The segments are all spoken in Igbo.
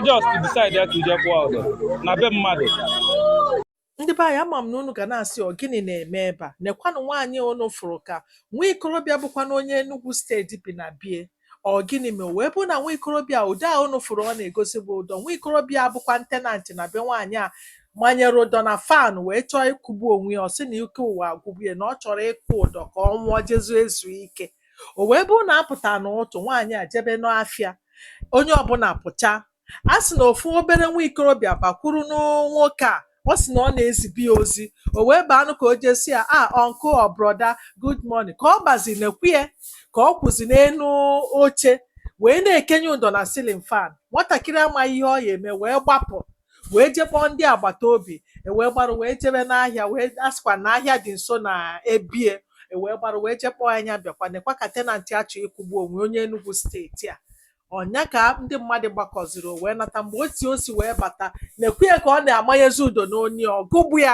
just decide ya to je kwụọ ụdọ na be mmadụ ndị be anyị ama m na unu ga na-asị ọ gịnị na-eme ebe a nekwanụ nwaanyị unu fụrụ ka nwa ikorobịa bụkwanụ onye Enugu steeti bi na be ya ọ gịnị mere wee bụ na nwa ikorobịa ụdọ a unu fụrụ ọ na-egosi bụ ụdọ nwa ikorobịa a bụkwanụ tenant na be nwaanyị a manyere ụdọ na fan wee chọọ ịkwụgbu onwe ya ọ sị na ike ụwa agwụgbu ya na ọ chọrọ ịkwụ ụdọ ka ọ nwụọ jezu ezu ike O wee bụrụ na a pụta n'ụtụtụ, nwaanyị a jebe n'afịa, onye ọbụla pụcha. A sị na ofu obere nwa ikorobịa bakwurunụ nwoke a. Ọ sị na ọ na-ezibu ya ozi. O wee baanụ ka o jee sị ya, "Ah, uncle or brother, good morning." Ka ọ bazi nekwa ya ka ọ kwụzi n'elu oche wee na-ekenye ụdọ na ceiling fan. Nwatakịrị amaghị ihe ọ ya-eme wee gbapụ. wee je kpọọ ndị agbata obi e wee gbarụ wee jebe n'ahịa wee a sịkwa na ahịa dị nso na be ya e wee gbarụ wee je kpọọ nwaanyị a bịakwa nekwa ka tenant a chọ ịkwụgbu onwe onye Enugu steeti a ọ nya ka ndị mmadụ gbakọziri o wee nata mgbe o si o si wee bata nekwa ya ka ọ na-amanyezi ụdọ n'onu ya ọ kwụgbu ya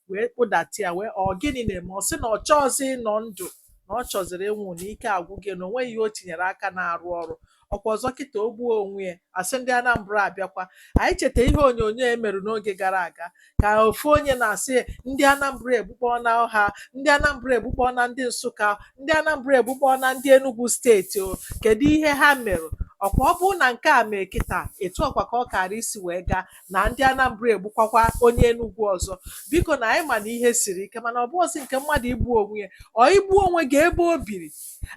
wee kpụdata ya wee ọ gịnị na-eme ọ sị na ọ chọọzị ịnọ ndụ na ọ chọziri ịnwụ na ike agwụgo ya na o nweghị ihe o tinyere aka na-arụ ọrụ ọkwa ọzọ kịta o gbuo onwe ya a sị ndị Anambra abịakwa anyị cheta ihe onyonyo e mere n'oge gara aga ka ofu onye na-asị ndị Anambra egbukpọna ọha ndị Anambra egbukpọna ndị Nsụka ndị Anambra egbukpọna ndị Enugu steeti ọ kedu ihe ha mere ọkwa ọ bụrụ na nke a mee kịta etu ọkwa ka ọ kara isi wee gaa na ndị Anambra egbukwakwa onye Enugwu ọzọ biko na anyị ma na ihe siri ike mana ọ bụọzị nke mmadụ igbu onwe ya ọ igbu onwe gị ebe o biri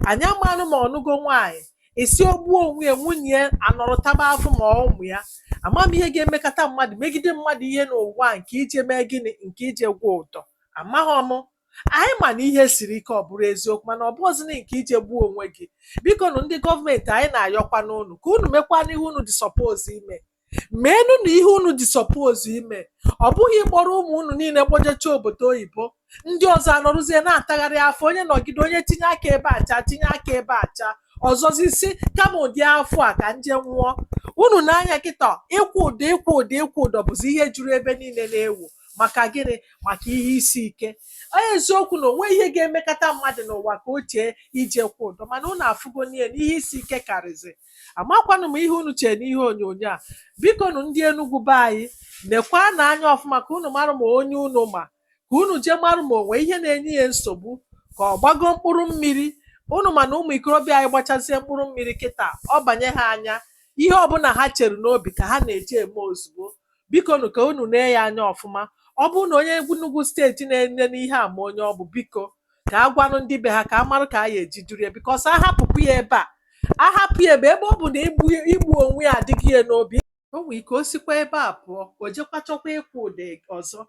anyị amanụ ma ọ nụgo nwaanyị a sị o gbuo onwe ya nwunye ya anọrọ taba afụfụ ma ụmụ ya ama m ihe ga-emekata mmadụ megide mmadụ ihe n'ụwa nke ije mee gịnị nke ije kwụọ ụdọ amaghị m anyị ma na ihe siri ike ọ bụrụ eziokwu mana ọ bụọzị nke ije gbuo onwe gị bikonụ ndị gọọmenti anyị na-ayọkwanụ unu ka unu mekwanụ ihe unu dị suppose ime meenụ na ihe unu dị suppose ime ọ bụghị ịkpọrọ ụmụ unu niile kpọjecha obodo oyibo ndị ọzọ anọrụzie na-atagharị afụfụ onye nọgide onye tinye aka ebe a cha tinye aka ebe a cha ọzọzi si kama ụdị afụfụ a ka m je nwụọ unu nee anya kịta ịkwụ ụdọ ịkwụ ụdọ ịkwụ ụdọ bụzi ihe juru ebe niile na-ewu maka gịnị maka ihe isi ike ọ eziokwu na o nwe ihe ga-emekata mmadụ n'ụwa ka o chee ije kwụọ ụdọ mana unu afụgo na ihe na ihe isi ike karịzị amakwanụ m ihe unu chere n'ihe onyonyo a bikonụ ndị Enugu be anyị nekwanụ anya ọfụma ka unu mara ma onye unu ma ka unu jee mara ma o nwe ihe na-enye ya nsogbu ka ọ gbago mkpụrụ mmiri unu ma na ụmụ ikorobịa anyị gbachazie mkpụrụ mmiri kịta ọ banye ha anya ihe ọbụla ha chere n'obi ka ha na-eji eme ozugbo bikonụ ka unu nee ya anya ọfụma ọ bụrụ na onye Enugu steeti na-enene ihe a ma onye ọ bụ biko ka a gwanụ ndị be ha ka a marụ ka a ya eji duru ya because a hapụpụ ya ebe a a hapụ ya ebe ebe ọ bụ na igbu igbu onwe ya adịgo ya n'obi o nwere ike o sikwa ebe a pụọ o jekwa chọkwa ịkwụ ụdọ ọzọ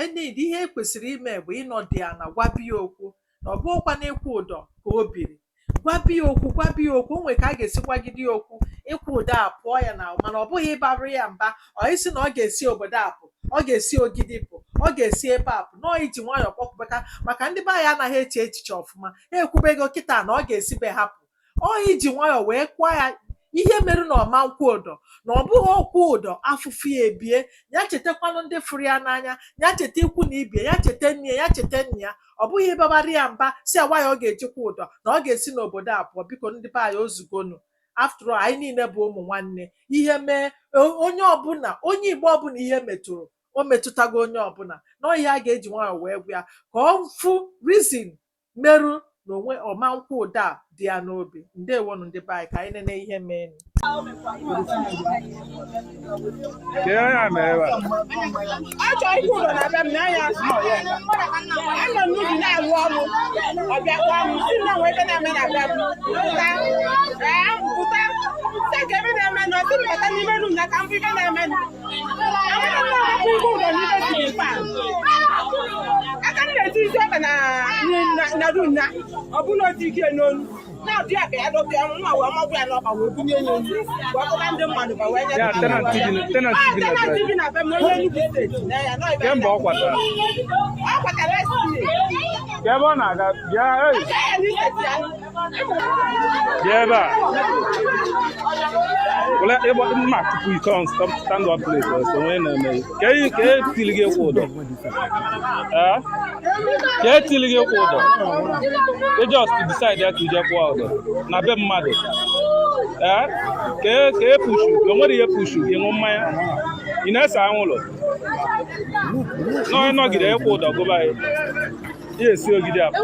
enid ihe e kwesịrị ime bụ ịnọdụ ya ana gwaba ya okwu na ọ bụghịkwa na ịkwụ ụdọ ka o biri gwaba ya okwu gwaba ya okwu o nwere ka a ga-esi gwagide ya okwu ịkwụ ụdọ apụọ ya na mana ọ bụghị ịbarụ ya mba sị na ọ ga-esi obodo a pụ ọ ga-esi ogidi pụ ọ ga-esi ebe a pụ na ọ iji nwayọọ kpọkụbaka maka ndị be anyị anaghị eche echiche ọfụma ha ekwubego kịta na ọ ga-esi be ha pụ ọ iji nwayọọ wee gwa ya ihe merụ na ọ ma nkwụ ụdọ na ọ bụghị ọ kwụọ ụdọ afụfụ ya ebie ya chetakwanụ ndị fụrụ ya n'anya ya cheta ikwu na ibe ya cheta nne ya ya cheta nne ya ọ bụghị ịbabara ya mba sị ya why ọ ga-eji kwụ ụdọ na ọ ga-esi n'obodo a pụọ biko ndị be anyị ozugonu after all anyị niile bụ ụmụ nwanne ihe mee o- onye ọbụla onye igbo ọbụla ihe metụrụ o metụtago onye ọbụla na ọ ihe a ga-eji nwayọọ wee gwa ya ka ọ fụ reason merụ na o nwe ọ ma nkwụ ụdọ a dị ya n'obi ndewonụ ndị be anyị ka anyị nene ihe mee a chọ ịkwụ ụdọ na be m na anya anọ n'ubi na-alụ ọrụ ọ bịa kpọọ m sị na o nwee ife na-eme na be m pụta ee pụta nke ife na-eme na ọtụ m bata n'ime room na ka m fụ ife na-eme kemgbe ọ kwatara ka ebe ọ na-aga bịa Bịa ebe a. Wele ịgba mma tupu ike on stop stand up place ọsọ onye na-eme ya. Ka e ka e tili gị kwụ ụdọ. Ee? Ka e tili gị kwụ ụdọ. I just decide ya ka i je kwụọ ụdọ na be mmadụ. Ee? Ka e ka e pushu o nwere ihe pushu gị ṅụ mmanya. Ị na-ese anwụlụ. Nọ ịnọgide ịkwụ ụdọ gụba ya. Ya esi Ogidi apụ.